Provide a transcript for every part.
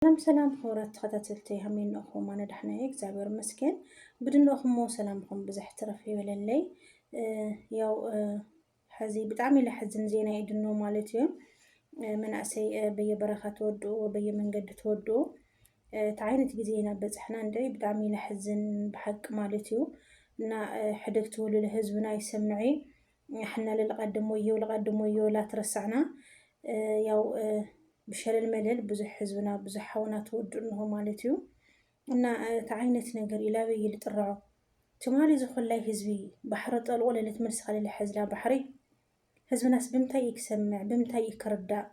ሰላም ሰላም ክቡራት ተኸታተልቲ ሃሜን ንእኹም ኣነ ዳሕና እየ እግዚኣብሔር ይመስገን ብድንእኹሞ ሰላምኹም ብዝሕ ትረፍ ይበለለይ ያው ሕዚ ብጣዕሚ ለሕዝን ዜና እዩ ድኖ ማለት እዩ መናእሰይ በየበረኻ ተወድኡ በየመንገዲ ተወድኡ እቲ ዓይነት ግዜ ኢና በፅሕና እንደ ብጣዕሚ ለሕዝን ብሓቂ ማለት እዩ እና ሕደግቲ ውልለ ህዝብና ይሰምዐ ንሕና ለልቀድም ወዮ ለቀድም ወዮ ላትረሳዕና ያው ብሸለል መለል ብዙሕ ህዝብና ብዙሕ ሓውና ተወዱ እንሆ ማለት እዩ እና እቲ ዓይነት ነገር እዩ ላበይ እዩ ልጥርዖ ትማሊ ዝኾላይ ህዝቢ ባሕሪ ጠልቆ ለለት መልሲ ከለለ ሕዝላ ባሕሪ ህዝብናስ ብምንታይ እዩ ክሰምዕ ብምንታይ እዩ ክርዳእ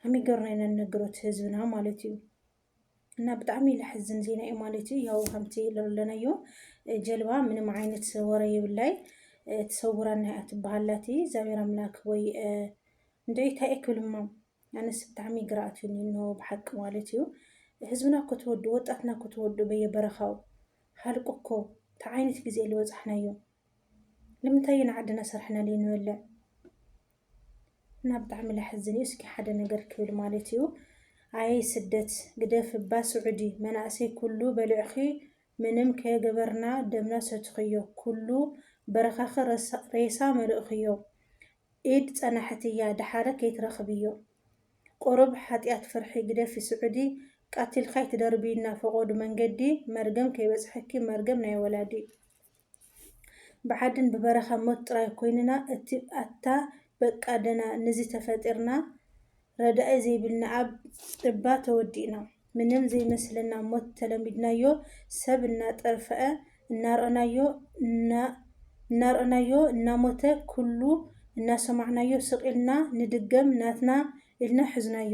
ከመይ ገርና ኢና ንነግሮ እቲ ህዝብና ማለት እዩ እና ብጣዕሚ ለሕዝን ዜና እዩ ማለት እዩ ያው ከምቲ ለለናዮ ጀልባ ምንም ዓይነት ወረ ይብላይ ትሰውራና እያ ትበሃላት እግዚኣብሔር ኣምላክ ወይ እንደ እንታይ እየ ክብልማ ኣነስ ብጣዕሚ ግራ ኣትዩኒ እንሆ ብሓቂ ማለት እዩ ህዝብና እኮ ተወዱ ወጣትና እኮ ተወዱ በየበረኻው ሃልቁ እኮ እንታይ ዓይነት ግዜ ዝበፃሕናዮ ልምንታይ ኢና ዓድና ሰራሕና ለይንበልዕ እና ብጣዕሚ ለሐዝን እዩ እስኪ ሓደ ነገር ክብል ማለት እዩ ኣየይ ስደት ግደፍ እባ ስዑዲ መናእሰይ ኩሉ በልዕኺ ምንም ከየገበርና ደምና ሰትኽዮ ኩሉ በረኻኺ ሬሳ መልእኽዮ ኢድ ፀናሕት እያ ደሓረ ከይትረኽብዮ ቁሩብ ሓጥያት ፍርሒ ግደፊ ስዑዲ ቃቲልካ ኣይትደርብይና ፈቆዱ መንገዲ መርገም ከይበፅሐኪ መርገም ናይ ወላዲ ብዓድን ብበረኻ ሞት ጥራይ ኮይንና እቲ ኣታ በቃ ደና ንዚ ተፈጢርና ረዳኢ ዘይብልና ኣብ እባ ተወዲእና ምንም ዘይመስለና ሞት ተለሚድናዮ ሰብ እናጠርፈኣ እናርኣናዮ እናርኣናዮ እናሞተ ኩሉ እናሰማዕናዮ ስቅ ኢልና ንድገም ናትና ኢልና ሕዝናዮ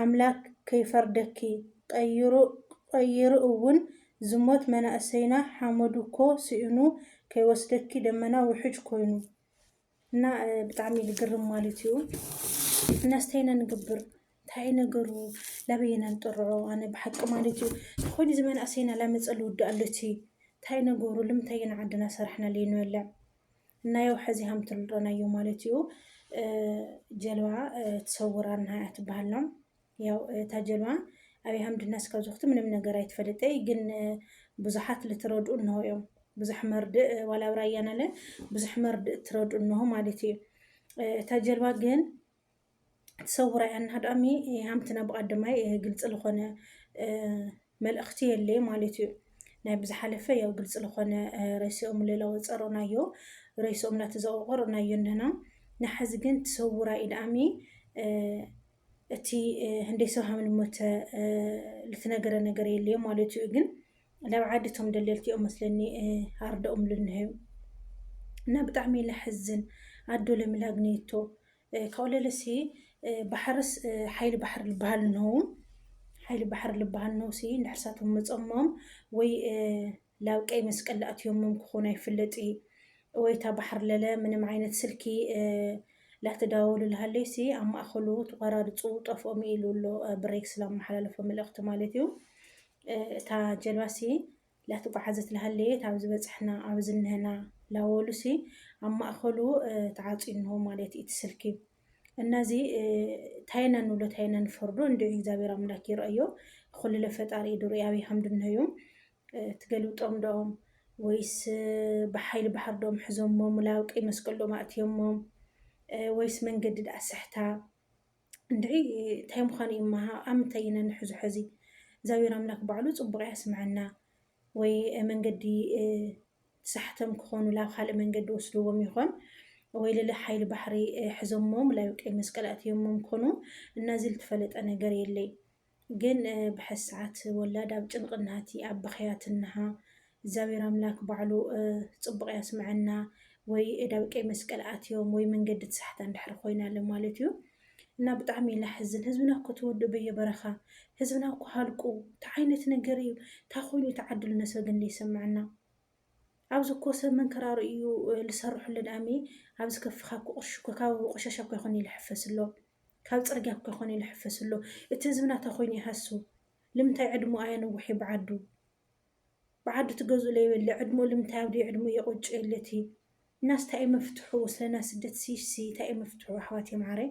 ኣምላክ ከይፈርደኪ ቀይሩ ቀይሩ እውን ዝሞት መናእሰይና ሓመዱ እኮ ስኢኑ ከይወስደኪ ደመና ውሕጅ ኮይኑ እና ብጣዕሚ ዝግርም ማለት እዩ እነስተይነ ንግብር እንታይ ነገሩ ላበየ ነንጥርዖ ኣነ ብሓቂ ማለት እዩ ተኮይኑ እዚ መናእሰይና ላመፀ ልውዳእ ኣሎቲ እንታይ ነገሩ ልምንታይ ኢና ዓድና ሰራሕና ለይንበልዕ እና ያው ሕዚ ከምትልጦና እዩ ማለት እዩ ጀልባ ትሰውራ እና እያ ትበሃል ነው ያው እታ ጀልባ ኣብይ ሃምድ እና እስካብ ዝኩቲ ምንም ነገር ኣይትፈልጠይ ግን ብዙሓት ልትረድኡ እንሆ እዮም ብዙሕ መርድእ ዋላ ኣብ ራያና ለ ብዙሕ መርድእ ትረድኡ እንሆ ማለት እዩ እታ ጀልባ ግን ሰውራ እያ እና ዳሚ ሃምትና ብቀደማይ ግልፂ ዝኾነ መልእኽቲ የለይ ማለት እዩ ናይ ብዝሓለፈ ያው ግልፂ ዝኾነ ረሲኦም ሌላ ወፀሮ ናዮ ረሲኦም ናተዘቆቆር ናዮ እንና ንሓዚ ግን ትሰውራ እዩ ዳሚ እቲ ህንደይ ሰብ ሃምን ሞተ ልትነገረ ነገር የለዮ ማለት እዩ ግን ናብ ዓዲ እቶም ደለልቲ እዮም መስለኒ ኣርደኦም ልንሀዩ እና ብጣዕሚ ለሕዝን ኣዶ ለምላግኔቶ ካብኡ ለለሲ ባሕርስ ሓይሊ ባሕሪ ልበሃል እንሆው ሓይሊ ባሕሪ ልበሃል ነውሲ ንሕርሳቶም መፀሞም ወይ ላብ ቀይ መስቀል ላእትዮሞም ክኾኑ ኣይፍለጥ እዩ ወይታ ባሕር ለለ ምንም ዓይነት ስልኪ ላተዳወሉ ልሃለይሲ ኣብ ማእኸሉ ተቋራርፁ ጠፍኦም ኢሉ ኣሎ ብሬክስ ላመሓላለፎ መልእኽቲ ማለት እዩ እታ ጀልባሲ ላተጓዓዘት ላሃለየት ኣብዚ በፅሕና ኣብዚ እነሀና ላወሉሲ ኣብ ማእኸሉ ተዓፅዩ እንሆ ማለት እዩ እቲ ስልኪ እና እዚ ታይ ኢና ንብሎ ታይ ኢና ንፈርዶ እንድዒ እግዚኣብሔር ኣምላክ ይረእዮ ኹልለ ፈጣሪ እዩ ዱርኢ ኣብይ ከም ድንሀዩ ትገልብጦም ዶኦም ወይስ ብሓይሊ ባሕሪ ዶም ሕዞሞም ላብ ቀይ መስቀል ዶም ኣእትዮሞም ወይስ መንገዲ ድኣ ስሕታ እንድዒ እንታይ ምዃኑ እዩ እማ ኣብ ምንታይ ኢና ንሕዞ ሐዚ እግዚኣብሔር ኣምላክ ባዕሉ ፅቡቅ ያስምዐና ወይ መንገዲ ተሳሕተም ክኾኑ ላብ ካልእ መንገዲ ወስድዎም ይኾን ወይ ልለ ሓይሊ ባሕሪ ሕዘሞም ላዩ ቀይ መስቀል ኣእትዮሞም ኮኑ እና እዚ ልትፈለጠ ነገር የለይ ግን ብሐዚ ሰዓት ወላድ ኣብ ጭንቂ ናህቲ ኣብ ብኽያት እንሃ እግዚኣብሔር ኣምላክ ባዕሉ ፅቡቅ ያስመዐና ወይ እዳብ ቀይ መስቀል ኣትዮም ወይ መንገዲ ትሳሕታ እንድሕር ኮይና ኣሎ ማለት እዩ እና ብጣዕሚ ላሕዝን ህዝብና እኮ ተወዱ በየበረኻ ህዝብና እኮ ሃልቁ እንታይ ዓይነት ነገር እዩ እንታይ ኮይኑ ተዓድሉ ነሰብ ግን ዘይሰመዐና ኣብዚ እኮ ሰብ ምንክራሩ እዩ ልሰርሑልን ኣሜ ኣብዚ ከፍካ እኮ ቅርሺ እኮ ካብ ቆሻሻ እኮ ይኮን ልሕፈስ ኣሎ ካብ ፅርግያ እኮ ይኮን ልሕፈስ ኣሎ እቲ ህዝቢ ናታ ኮይኑ ይሃሱ ልምንታይ ዕድሙ ኣየንውሒ ብዓዱ ብዓዱ ትገዝኡ ለይበለ ዕድሙ ልምንታይ ኣብዲ ዕድሙ የቆጭ የለቲ እናስ ታይ መፍትሑ ስለና ስደት ሲሲ ታይ መፍትሑ ኣሕዋት የምዓረይ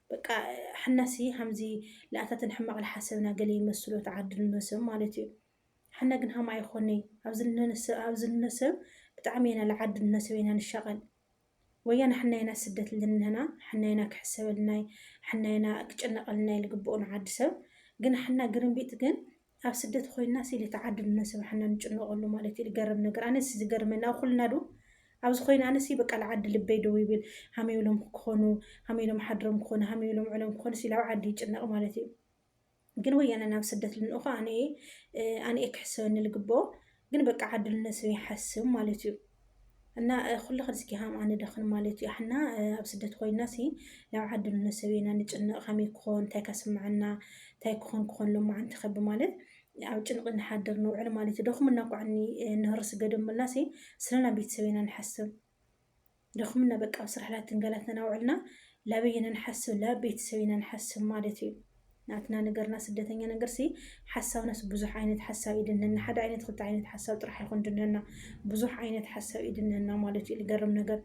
በቃ ሐና ሲ ሃምዚ ለኣታትን ሕማቅ ለሓሰብና ገለ ይመስሎ ተዓድል እኖ ሰብ ማለት እዩ ሐና ግን ሃም ኣይኾነይ ኣብዚ እኖ ሰብ ብጣዕሚ የና ለዓድል እኖ ሰብ የና ንሻቀል ወያነ ሐና የና ስደት ልንህና ሐና የና ክሕሰበልናይ ሐና የና ክጭነቀልናይ ልግብኦ ንዓዲ ሰብ ግን ሐና ግርምቢጥ ግን ኣብ ስደት ኮይና ሲሊ ተዓዱ ነስብሓና ንጭነቀሉ ማለት እዩ ዝገርም ነገር ኣነስ ዝገርመኒ ኣብ ኩልና ዱ ኣብዚ ኮይና ኣነስ በቃ ልዓዲ ልበይ ደው ይብል ሃመይ ኢሎም ክኾኑ ሃመይ ኢሎም ሓድሮም ክኾኑ ሃመይ ኢሎም ዕሎም ክኾኑ ሲሊ ኣብ ዓዲ ይጭነቅ ማለት እዩ ግን ወያነ ናብ ስደት ልንእኮ ኣነ ኣነ ክሕሰበኒ ልግብኦ ግን በቃ ዓድል ነሰብ ይሓስብ ማለት እዩ እና ኩሉ ክንስኪ ሃም ኣንደኽን ማለት እዩ ኣሕና ኣብ ስደት ኮይና ሲ ናብ ዓድል ነሰብ ኢና ንጭነቕ ከመይ ክኾን እንታይ ከስምዐና እንታይ ክኾን ክኾን ሎማዓንቲ ከብ ማለት ኣብ ጭንቂ ንሓድር ንውዕል ማለት እዩ ደኹምና ኳዕኒ ንህርስ ገደምልና ሲ ስለና ቤተሰብ ኢና ንሓስብ ደኹምና በቃ ኣብ ስራሕ ላተንገላትና ናውዕልና ላበይ ኢና ንሓስብ ላብ ቤተሰብ ኢና ንሓስብ ማለት እዩ ናትና ነገርና ስደተኛ ነገርሲ ሓሳብናስ ብዙሕ ዓይነት ሓሳብ ይድነና ሓደ ዓይነት ክልተ ዓይነት ሓሳብ ጥራሕ ይኹን ድነና ብዙሕ ዓይነት ሓሳብ ይድነና ማለት እዩ ዝገርም ነገር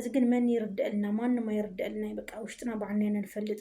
እዚ ግን መን ይርደአልና ማንም ኣይርደአልና በቃ ውሽጥና ባዕልና ኢና ንፈልጥ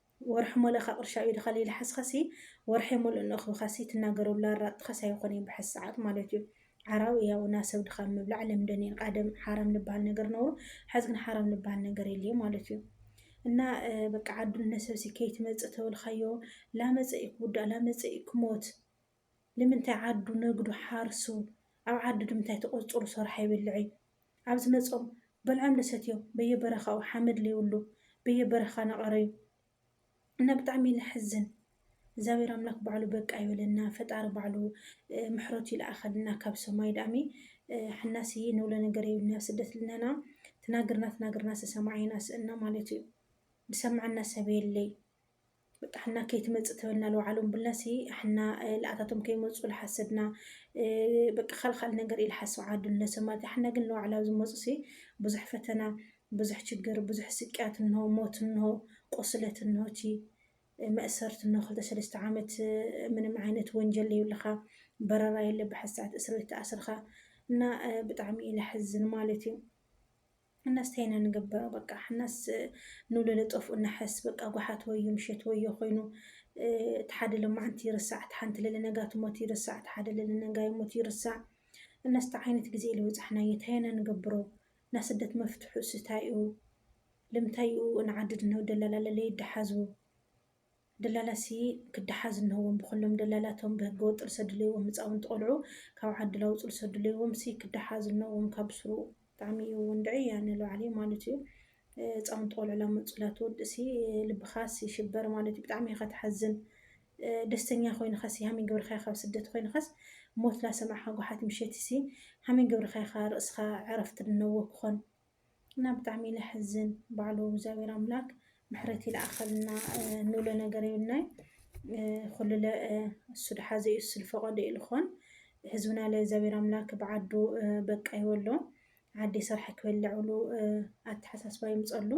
ወርሒ ሞለ እካ ቅርሻ ኣብ ኢድካ ለይልሓስካሲ ወርሒ ሙሉእ ንእክብካሲ ትናገረሉ ኣራጥጥካስ ኣይኮነይ ብሐዚ ሰዓት ማለት እዩ ዓራዊ ያውና ሰብ ድካም ምብላዕ ለምደን እየን ቃደም ሓራም ልብሃል ነገር ነውሩ ሐዚ ግን ሓራም ልብሃል ነገር የልይ ማለት እዩ እና በቃ ዓዱ እነሰብሲ ከይትመጽእ ተበልካዮ ላመጸ እዩ ክውዳእ ላመጸ እዩ ክሞት ልምንታይ ዓዱ ነግዱ ሓርሱ ኣብ ዓዱ ድምንታይ ተቆርጹሩ ሰርሖ ኣይበልዕይ ኣብ ዝመጾም በልዖም ደሰትዮ በየ በረካኡ ሓመድ ለይብሉ በየ በረካ ናቀረዩ እና ብጣዕሚ ለሕዝን እግዛብሄር ኣምላክ ባዕሉ በቃ ይበለና ፈጣሪ ባዕሉ ምሕረቱ ይልኣከልና ካብ ሰማይ ዳኣሚ ሕናሲ ንብሎ ነገር የብልና ኣብ ስደት ልነና ትናግርና ትናግርና ሰሰማዓይና ስእና ማለት እዩ ድሰምዐና ሰብ የለይ በቃ ሕና ከይትመፅእ ተበልና ለውዓሎም ብልና ሲ ሕና ለኣታቶም ከይመፁ ልሓሰብና በቃ ካልእ ካልእ ነገር እዩ ልሓስብ ዓዱ ልነሰብ ማለት እዩ ሕና ግን ለዋዕላ ዝመፁ ሲ ብዙሕ ፈተና ብዙሕ ችግር ብዙሕ ስቅያት እንሆ ሞት እንሆ ቁስለት እንሆ እቲ መእሰርቲ እንሆ ክልተ ሰለስተ ዓመት ምንም ዓይነት ወንጀል የብልኻ በረራ የለ ብሓሳት እስር ቤት ተኣስርኻ እና ብጣዕሚ እዩ ለሕዝን ማለት እዩ ሕናስ ታይ ኢና ንግበሮ በቃ ሕናስ ንውለደ ጠፍኡ ነሐስ በቃ ጓሓት ወዮ ምሸት ወዮ ኮይኑ እቲ ሓደ ለማዓንቲ ይርሳዕ እቲ ሓንቲ ለለ ነጋ ትሞት ይርሳዕ እቲ ሓደ ለለ ነጋ ይሞት ይርሳዕ እናስ ታይ ዓይነት ግዜ እዩ ልበፃሕናዮ ታይ ኢና ንገብሮ ናስደት መፍትሑስ ታይ እዩ ልምታይ እዩ ንዓድድ ንደላላ ለለ ይደሓዙ ደላላሲ ክዳሓዝ እንሀዎም ብኸሎም ደላላ እቶም ብህገ ወጥ ርሰ ድለይዎም ህፃውንቲ ቆልዑ ካብ ዓዲ ላውፁ ርሰ ድለይዎም ሲ ክዳሓዝ እንሀዎም ካብ ስሩ ብጣዕሚ እዩ ወንድዕይ ያነ ለባዕለይ ማሉት እዩ ህፃውንቲ ቆልዑ ላመፁ ላትወድእ ሲ ልብኻ ሲ ሽበር ማሉት እዩ ብጣዕሚ እኻ ትሓዝን ደስተኛ ኮይንኻ ሲ ሃመይ ገብርኻይ ካብ ስደት ኮይንኻስ ሞት ላሰማዕኻ ጓሓት ምሸት ሲ ሃመይ ገብርኻይ እኻ ርእስኻ ዕረፍት ድነዎ ክኾን እና ብጣዕሚ ለሕዝን ባዕሉ እግዚኣብሔር ኣምላክ ምሕረት ይልኣኸልና ንብሎ ነገር የብልናይ ኩልለ እሱ ድሓዘ እዩ እሱ ዝፈቀዶ እዩ ልኾን ህዝብና ለእግዚኣብሔር ኣምላክ ብዓዱ በቃ ይበሎ ዓዲ ሰርሐ ክበልዕ ብሉ ኣተሓሳስባ ይምፀሉ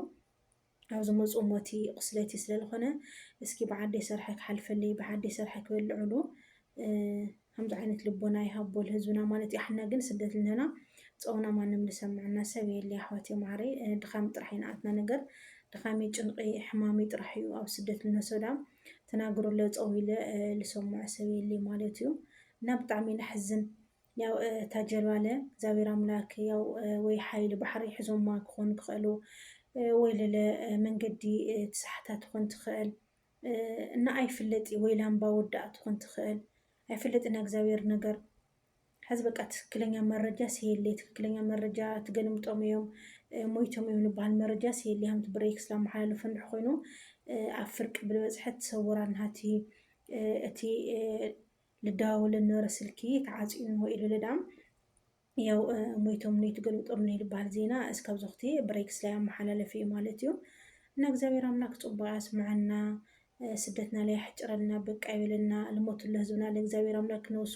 ኣብ ዝመጽኡ ሞቲ ቁስለቲ ስለ ልኮነ እስኪ ብዓደይ ሰርሐ ክሓልፈለይ ብዓደይ ሰርሐ ክበልዕሉ ከምዚ ዓይነት ልቦና ይሃቦ ልህዝብና ማለት እዩ ኣሕና ግን ስደት ልንህና ጸውና ማንም ልሰምዐና ሰብ የለ ኣሕዋትየ ማዓረይ ድኻም ጥራሕ እዩ ንኣትና ነገር ድኻሚ ጭንቂ ሕማሚ ጥራሕ እዩ ኣብ ስደት ልነሶዳ ተናግርለ ጸው ኢለ ልሰምዖ ሰብ የለ ማለት እዩ እና ብጣዕሚ እዩ ለሕዝን ያው እታ ጀልባ ለ እግዚኣብሔር ኣምላክ ያው ወይ ሓይሊ ባሕሪ ሒዞማ ክኾኑ ክኽእሉ ወይ ለለ መንገዲ ትሳሕታ ትኾን ትኽእል እና ኣይፍለጥ ወይ ላምባ ወዳኣ ትኾን ትኽእል ኣይፍለጥ እና እግዚኣብሔር ነገር ሕዚ በቃ ትክክለኛ መረጃ ሲየለ ትክክለኛ መረጃ ትገልምጦም እዮም ሞይቶም እዮም ንበሃል መረጃ ሲየለ ሃምቲ ብሬክስ ላመሓላለፉ እንድሕ ኮይኑ ኣብ ፍርቂ ብልበፅሐት ሰውራን ሃቲ እቲ ልደዋወለ ልነበረ ስልኪ ተዓጽዩን ወይ ኢሉ ልዳም ያው ሞይቶም ነው የተገልብጦም ነው ልበሃል ዜና እስካብ ዞኽቲ ብሬክስ ላይ ኣመሓላለፍ እዩ ማለት እዩ እና እግዚኣብሔር ኣምላክ ጽቡቅ ያስምዐና ስደትና ላይ ያሕጭረልና በቃ ይበለና ልሞቱ ለህዝብና ለእግዚኣብሔር ኣምላክ ነውሱ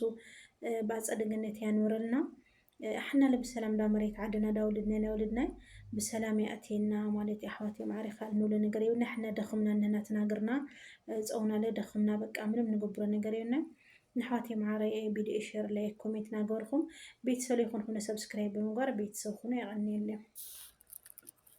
ብኣጸደ ገነት ያኖረልና ኣሕና ለ ብሰላም እንዳ መሬት ዓድና እንዳ ወልድናይ ናይ ወልድናይ ብሰላም የእትየና ማለት እዩ ኣሕዋተይ ማዕረይ ካልእ ንብሎ ነገር የብልና ኣሕና ደኽምና ነናትና እግርና ፀውና ለ ደኽምና በቃ ምንም ንገብሮ ነገር የብልና ንሕዋተይ መዓረይ ቪድዮ ሼር ላይክ ኮሜንት ናገበርኩም ቤተሰብ ይኹን ሁነ ሰብስክራይብ ብምግባር ቤተሰብ ሁኑ የቐንየለይ።